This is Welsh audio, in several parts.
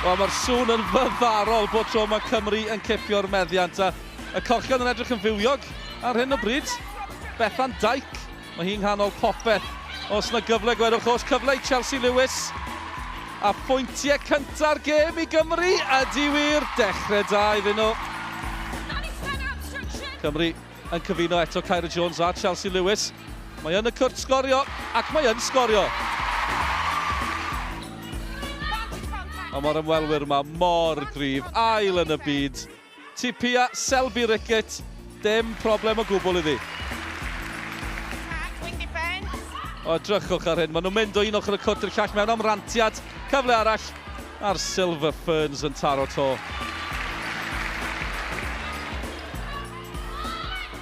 Wel, mae'r sŵn yn fyfarol bod tro mae Cymru yn cipio'r meddiant a y cochion yn edrych yn fywiog ar hyn o bryd. Bethan Dijk Mae hi'n nghanol popeth. Os na gyfle gwerwch oll cyfle i Chelsea Lewis. A phointiau cynta'r gêm i Gymru ydy wir. Dechrau da iddyn nhw. Cymru yn cyfuno eto Kyra Jones a Chelsea Lewis. Mae yn y cwrt sgorio ac mae yn sgorio. Ond mae'r ymwelwyr yma mor gryf. Ail yn y byd. Tipia Selby Rickett, dim problem o gwbl iddi. O, edrychwch ar hyn, maen nhw'n mynd o un ochr y cwrt i'r llall mewn am rantiad. Cyfle arall, a'r Silver Ferns yn taro to.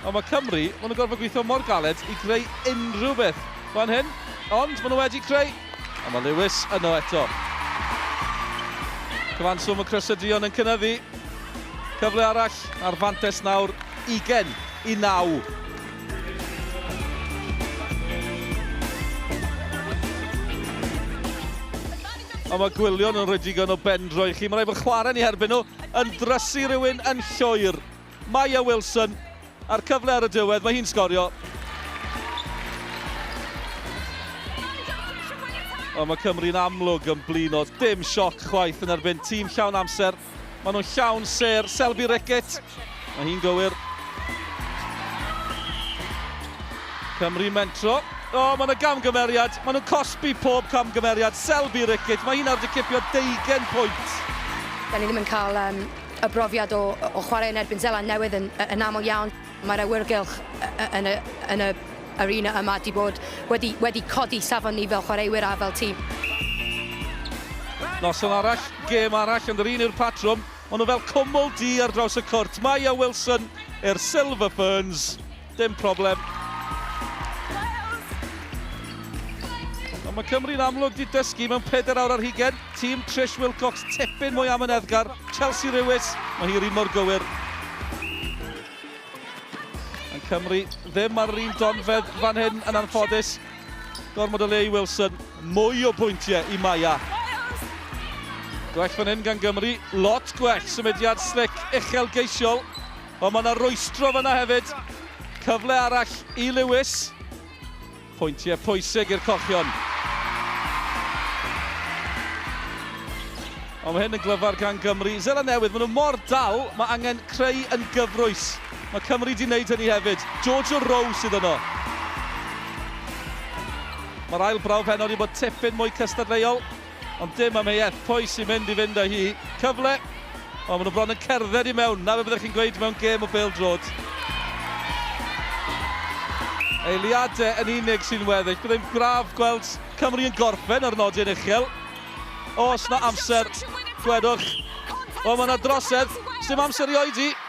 Ond mae Cymru, maen nhw'n gorfod gweithio mor galed i greu unrhyw beth fan hyn. Ond maen nhw wedi creu A mae Lewis yno eto. Cyfanswm y crysyddion yn cynyddu. Cyfle arall ar fantes nawr 20 i 9. A mae Gwillion yn rhoi digon o bendro i chi. Mae'n rhaid bod chwarae ni herbyn nhw yn drysu rhywun yn llwyr. Maya Wilson, a'r cyfle ar y diwedd, mae hi'n sgorio. Ond mae Cymru'n amlwg yn blino, dim sioc chwaith yn erbyn tîm llawn amser. Maen nhw'n llawn ser, Selby Rickett, mae hi'n gywir. Cymru mentro. O, oh, mae yna gamgymeriad. Maen nhw'n cosbi pob camgymeriad. Selby Rickett, mae hi'n ardi cipio deugen pwynt. Da ni ddim yn cael um, Y brofiad o o chwarae yn erbyn Zeland Newydd yn yn aml iawn, mae'r awyrgylch yn y yn y arena yma 'di bod wedi wedi codi safon ni fel chwaraewyr a fel tîm. Noson arall, gêm arall yn yr un yw'r patrwm, ond o fel cwmwl du ar draws y cwrt, Maya Wilson i'r Silver Ferns. Dim problem. Ond mae Cymru'n amlwg 'di dysgu mewn pedair awr ar hugain. Tîm Trish Wilcox tipyn mwy amyneddgar. Chelsea Rewis, mae hi'r un mor gywir. Yn Cymru ddim ar yr un donfedd fan hyn yn anffodus. Gormod o le i Wilson, mwy o bwyntiau i Maya. Gwell fan hyn gan Gymru, lot gwell, symudiad slic, uchelgeisiol. O, mae 'na rwystro fan'na hefyd. Cyfle arall i Lewis. Pwyntiau pwysig i'r Cochion. Ond mae hyn yn glyfar gan Gymru. Seland Newydd, maen nhw mor dal, mae angen creu yn gyfrwys. Mae Cymru di wneud hynny hefyd. George Rowe sydd yno. Mae'r ail brawf heno wedi bod tipyn mwy cystadleuol. Ond dim am ei eth, pwy sy'n mynd i fynd â hi? Cyfle! O, maen nhw bron yn cerdded i mewn, 'na be byddech chi'n gweud mewn gêm o bêl-droed. Eiliadau yn unig sy'n weddill, byddai'n braf gweld Cymru yn gorffen ar nodyn uchel. Oes 'na amser, gwedwch? O, mae 'na drosedd, 'sdim amser i oedi!